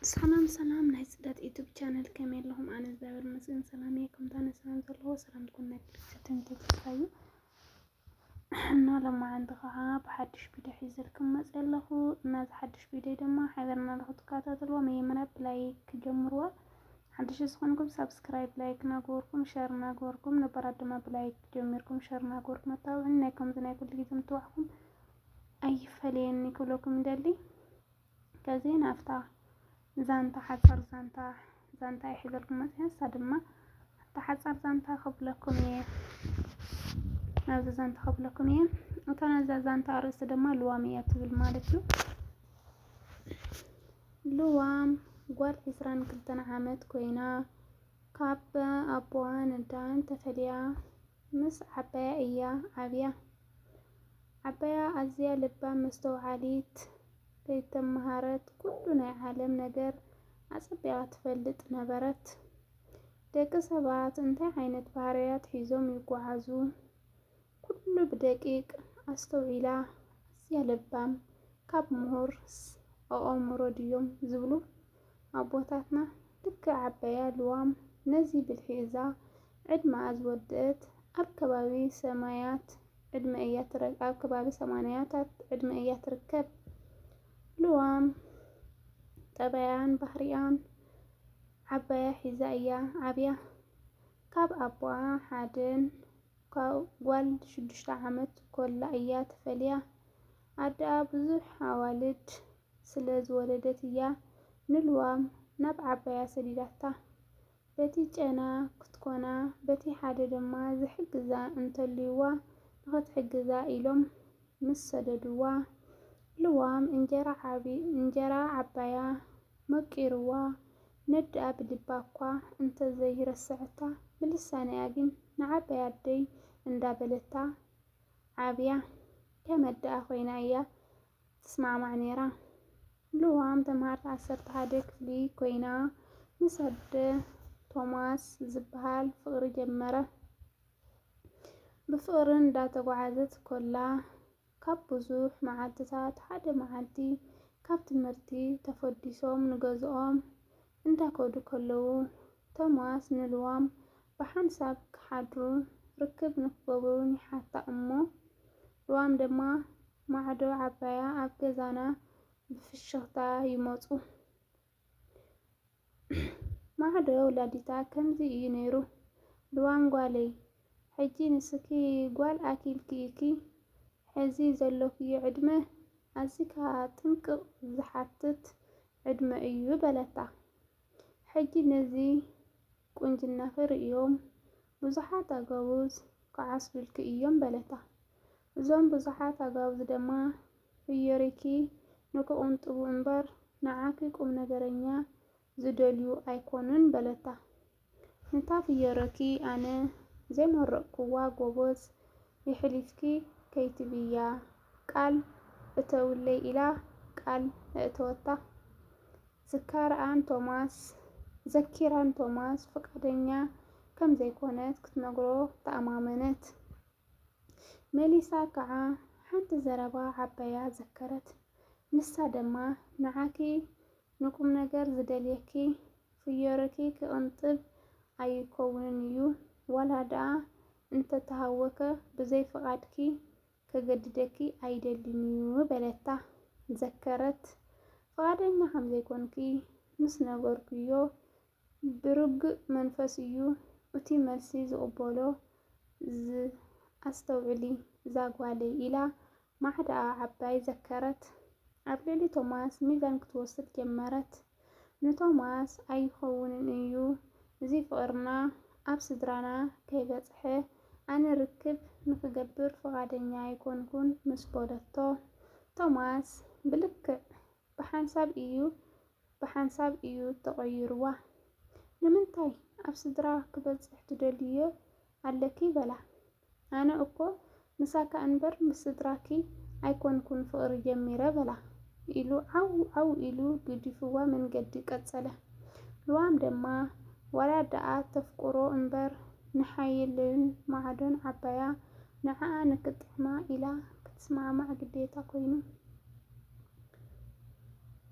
ሰላም ሰላም ናይ ፅደት ዩቱብ ቻነል ከመይ ኣለኹም? ኣነ እግዚኣብሔር ይመስገን ሰላም እየ። ከምታ ንሰላም ዘለዎ ሰላም ትኩን ናይ ክርስትያን ተስፋዩ እና ለማዓንቲ ከዓ ብሓድሽ ቪድዮ ሒዘልኩም መፅ ኣለኹ እና እዚ ሓድሽ ቪድዮ ድማ ሓቢርና ንክትከታተልዎ መጀመርያ ብላይክ ጀምርዋ ሓድሽ ዝኾንኩም ሳብስክራይብ ላይክ ናገበርኩም ሸር ናገበርኩም ነባራት ድማ ብላይክ ጀሚርኩም ሸር ናገበርኩም ኣታብዑኒ ናይ ከምዚ ናይ ኩሉ ግዜ ምትባዕኩም ኣይፈለየኒ ክብለኩም ይደሊ ከዚ ናብታ ዛንታ ሓፃር ዛንታ ዛንታ ይሕዘልኩም መፅያ ንሳ ድማ ኣብታ ሓፃር ዛንታ ክብለኩም እየ ናብዚ ዛንታ ክብለኩም እየ እታ ነዛ ዛንታ ኣርእስቲ ድማ ልዋም እያ ትብል ማለት እዩ ልዋም ጓል ዕስራን ክልተን ዓመት ኮይና ካብ ኣቦዋን ኣዳን ተፈልያ ምስ ዓባያ እያ ዓብያ። ዓባያ ኣዝያ ለባም መስተውዓሊት፣ ከይተመሃረት ኩሉ ናይ ዓለም ነገር ኣጸቢቓ ትፈልጥ ነበረት። ደቂ ሰባት እንታይ ዓይነት ባህርያት ሒዞም ይጎዓዙ? ኩሉ ብደቂቅ ኣስተውዒላ ኣዝያ ለባም ካብ ምሁርስ ኣኦሙሮ ድዮም ዝብሉ ኣቦታትና ልክዕ ዓባያ ልዋም ነዚ ብልሒ እዛ ዕድመኣ ዝወደእት ኣብ ከባቢ ሰማያት ዕድመ እያ ኣብ ከባቢ ሰማንያታት ዕድመ እያ ትርከብ ልዋም ጠባያን ባህሪኣን ዓባያ ሒዛ እያ ዓብያ ካብ ኣቦኣ ሓደን ካብ ጓል ሽዱሽተ ዓመት ኮላ እያ ተፈልያ። ኣደኣ ብዙሕ ኣዋልድ ስለ ዝወለደት እያ ንልዋም ናብ ዓባያ ሰዲዳታ። በቲ ጨና ክትኮና በቲ ሓደ ድማ ዝሕግዛ እንተልዩዋ ንኽትሕግዛ ኢሎም ምስ ሰደዱዋ፣ ልዋም እንጀራ ዓባያ መቂርዋ ነደኣ ብልባ እኳ እንተ ዘይረሰዐታ ብልሳና'ያ ግን ንዓባይ ኣደይ እንዳ በለታ ዓብያ ከም ኣደኣ ኮይና እያ ትስማዕማዕ ኔራ ልዋም ተማሃርት ዓሰርተ ሓደ ክፍሊ ኮይና ምስ ኣደ ቶማስ ዝብሃል ፍቅሪ ጀመረ ብፍቅሪ እንዳ ተጓዓዘት ኮላ ካብ ብዙሕ መዓልትታት ሓደ መዓልቲ ካብ ትምህርቲ ተፈዲሶም ንገዝኦም እንዳከዱ ከለዉ ቶማስ ንልዋም ብሓንሳብ ክሓድሩን ርክብ ንክገብሩን ይሓታ እሞ ልዋም ድማ ማዕዶ ዓባያ ኣብ ገዛና ብፍሽኽታ ይመጹ ማዕዶ ወላዲታ ከምዚ እዩ ነይሩ ልዋም ጓለይ ሕጂ ንስኪ ጓል ኣኪልኪ ኢኪ ሕዚ ዘሎክዮ ዕድመ ኣዚካ ጥንቅቅ ዝሓትት ዕድመ እዩ በለታ ሕጂ ነዚ ቁንጅናኪ ርእዮም ብዙሓት ኣገቡዝ ክዓስዱልኪ እዮም በለታ እዞም ብዙሓት ኣጋብዝ ደማ ፍዮሪኪ ንክቁንጥቡ እምበር ንዓኪ ቁምነገረኛ ዝደልዩ ኣይኮኑን በለታ። ንታ ፍዮረኪ ኣነ ዘይመረቅኩዋ ጎቦዝ የሕሊፍኪ ከይትብያ ቃል እተውለይ ኢላ ቃል ኣእተወታ። ዝካርኣን ቶማስ ዘኪራን ቶማስ ፍቃደኛ ከምዘይኮነት ክትነግሮ ተኣማመነት። መሊሳ ክኣ ሓንቲ ዘረባ ዓባያ ዘከረት ንሳ ደማ ንዓኪ ንቁምነገር ዝደልየኪ ፍዮርኪ ክቅንጥብ ኣይኮውንን እዩ ዋላ ድኣ እንተ ተሃወከ ብዘይ ፍቃድኪ ከገድደኪ ኣይደልን እዩ በለታ ዘከረት ፍቃደኛ ከም ዘይኮንኪ ምስ ነገርኩዮ ብርጉእ መንፈስ እዩ ኡቲ መልሲ ዝቕበሎ ዝብ ኣስተውዕሊ እዛ ጓለይ ኢላ ማዕዳኣ ዓባይ ዘከረት ኣብ ልዕሊ ቶማስ ሚዛን ክትወስድ ጀመረት ንቶማስ ኣይኸውንን እዩ እዚ ፍቕርና ኣብ ስድራና ከይበጽሐ ኣነ ርክብ ንኽገብር ፍቓደኛ ኣይኮንኩን ምስ በለቶ ቶማስ ብልክዕ ብሓንሳብ እዩ ብሓንሳብ እዩ ተቐይሩዋ። ንምንታይ ኣብ ስድራ ክበጽሕ ትደልይዮ ኣለኪ በላ። ኣነ እኮ ምሳካ እንበር ምስ ስድራኪ ኣይኮንኩን ፍቕሪ ጀሚረ በላ። ኢሉ ዓው ዓው ኢሉ ግዲፉዋ መንገዲ ቀጸለ። ልዋም ደማ ዋላ ደኣ ተፍቅሮ እንበር ንሓይልን ማዕዶን ዓባያ ንዓኣ ንክጥዕማ ኢላ ክትስማዕማዕ ግዴታ ኮይኑ።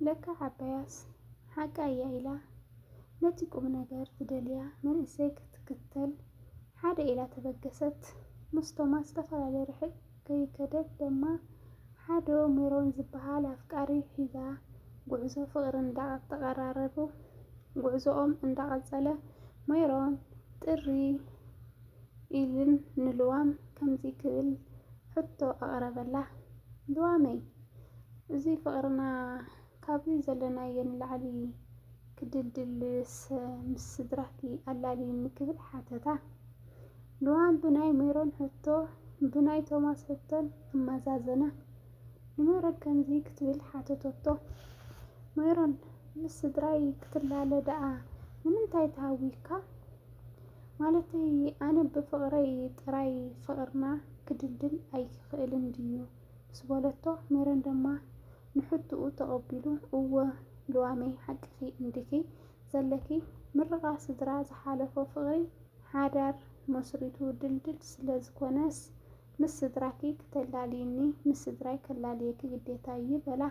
ለካ ዓባያስ ሓቃ እያ ኢላ ነቲ ቁምነገር ዝደልያ መንእሰይ ክትክተል ሓደ ኢላ ተበገሰት። ምስ ቶማስ ዝተፈላለየ ርሕቅ ከይከደት ደማ ሓዶ ሜሮን ዝበሃል ኣፍቃሪ ሒዛ ጉዕዞ ፍቅሪ እንዳተቀራረቡ። ጉዕዞኦም እንዳቀጸለ ሜሮን ጥሪ ኢልን ንልዋም ከምዚ ክብል ሕቶ ኣቅረበላ። ልዋመይ! እዚ ፍቅርና ካብዚ ዘለናዮ ንላዕሊ ክድልድል ምስ ስድራኪ ኣላልይኒ ክብል ሓተታ። ልዋም ብናይ ሜሮን ሕቶ ብናይ ቶማስ ሕቶን ኣመዛዘና። ንሜሮን ከምዚ ክትብል ሓተተቶ። ሜሮን ምስ ስድራይ ክትላለ ደኣ ንምንታይ ተሃዊክካ? ማለተይ ኣነ ብፍቅረይ ጥራይ ፍቅርና ክድልድል ኣይክእልን ድዩ? ምስ በለቶ፣ ሜሮን ድማ ንሕቶኡ ተቐቢሉ፣ እወ ሉዋመይ ሓቅኺ እንዲኺ ዘለኪ፣ ምርቓ ስድራ ዝሓለፎ ፍቕሪ ሓዳር መስሪቱ ድልድል ስለ ዝኾነስ፣ ምስ ስድራኪ ክተላልይኒ ምስ ስድራይ ከላልየኪ ግዴታይ እዩ በላ።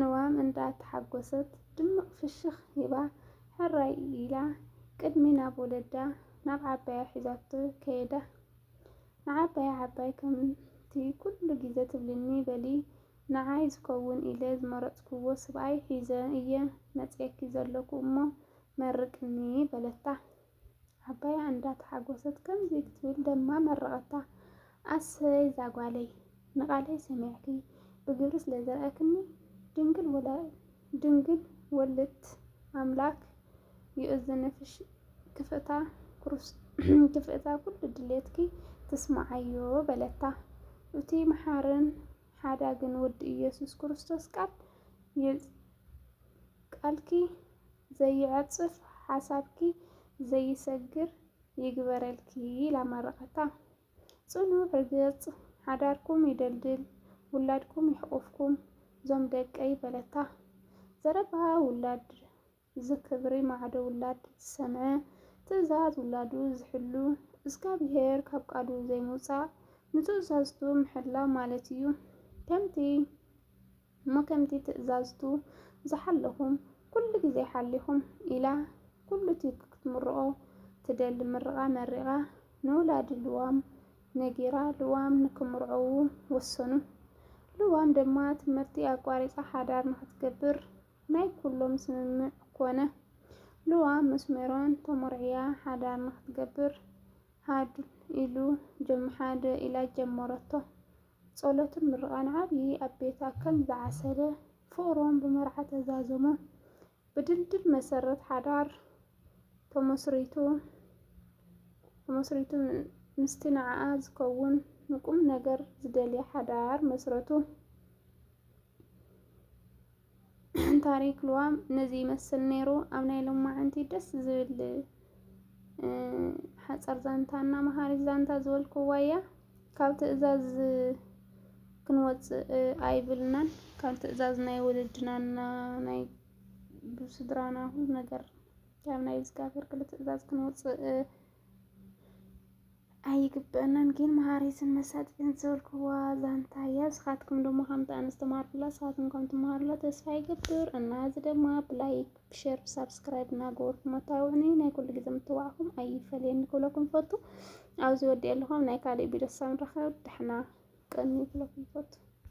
ሉዋም እንዳ ተሓጎሰት ድምቕ ፍሽኽ ሂባ ሕራይ ኢላ ቅድሚ ናብ ወለዳ ናብ ዓባያ ሒዛቶ ከየዳ። ንዓባይ ዓባይ ከምቲ ኩሉ ግዜ ትብልኒ በሊ ንዓይ ዝከውን ኢለ ዝመረጽኩዎ ስብኣይ ሒዘ እየ መጺኤኪ ዘለኩ እሞ መርቅኒ በለታ። ዓባያ እንዳ ተሓጎሰት ከምዚ ክትብል ደማ መረቀታ። ኣሰይ እዛ ጓለይ ንቃለይ ሰሚዕኪ ብግብሪ ስለ ዘርኣክኒ ድንግል ወላ ድንግል ወልድት ኣምላክ ይእዝንፍሽ ክፍእታ ኩሉ ድሌትኪ ትስምዓዮ በለታ። እቱይ መሓርን ሓዳግን ወዲ እየሱስ ክርስቶስ ቃል ቃልኪ ዘይዕፅፍ ሓሳብኪ ዘይሰግር ይግበረልኪ ኢላ መረቀታ። ጽኑዕ ርግጽ ሓዳርኩም ይደልድል ውላድኩም ይሕቁፍኩም ዞም ደቀይ በለታ ዘረባ ውላድ ዝክብሪ ማዕዶ ውላድ ዝሰምዐ ትእዛዝ ውላዱ ዝሕሉ እዝጋብሄር ካብ ቃሉ ዘይምውጻእ ንትእዛዝቱ ምሕላው ማለት እዩ ከምቲ እሞ ከምቲ ትእዛዝቱ ዝሓለኹም ኩሉ ግዜ ሓሊኹም ኢላ ኩሉቲ ክትምርቆ ትደሊ ምርቓ መሪቓ ንውላድ ልዋም ነጊራ ልዋም ንክምርዕዉ ወሰኑ ልዋም ድማ ትምህርቲ ኣቋሪጻ ሓዳር ንክትገብር ናይ ኩሎም ስምምዕ ኮነ ልዋም ምስ ሜሮን ተሞርዕያ ሓዳር ንክትገብር ሃድእ ኢሉ ጀምሓድእ ኢላ ጀመረቶ ጸሎትን ምርቓን ዓብዪ ኣብ ቤታ ከም ዝዓሰለ ፍቕሮም ብመርዓ ተዛዘሙ። ብድልድል መሰረት ሓዳር ተመስሪቱ። ተመስሪቱ ምስቲ ንዓኣ ዝከውን ንቁም ነገር ዝደልያ ሓዳር መስረቱ። ታሪክ ልዋም ነዚ ይመስል ነይሩ። ኣብ ናይ ሎማዓንቲ ደስ ዝብል ሓፀር ዛንታ እና መሃሪት ዛንታ ዝበልክዋ እያ። ካብ ትእዛዝ ክንወፅእ ኣይብልናን። ካብ ትእዛዝ ናይ ወለድና እና ናይ ብስድራና ኩሉ ነገር ካብ ናይ እግዚኣብሔር ክል ትእዛዝ ክንወፅእ ኣይግበአናን ግን መሃሪትን መሳጢትን ዝበልክዋ ዛንታ እያ። ንስኻትኩም ድማ ከምቲ ኣነ ዝተማሃርኩላ ንስኻትኩም ከም ትመሃሩላ ተስፋ ይገብር እና እዚ ድማ ብላይክ ብሸር ብሳብስክራይብ እናገበርኩም ኣታውዕኒ ናይ ኩሉ ግዜ ምትዋዕኹም ኣይፈለየኒ ክብለኩም ይፈቱ። ኣብዚ ወዲኦ ኣለኹም ናይ ካልእ ቢዶ ሳብ ንራኸብ ድሕና ቀኒ ክብለኩም ይፈቱ።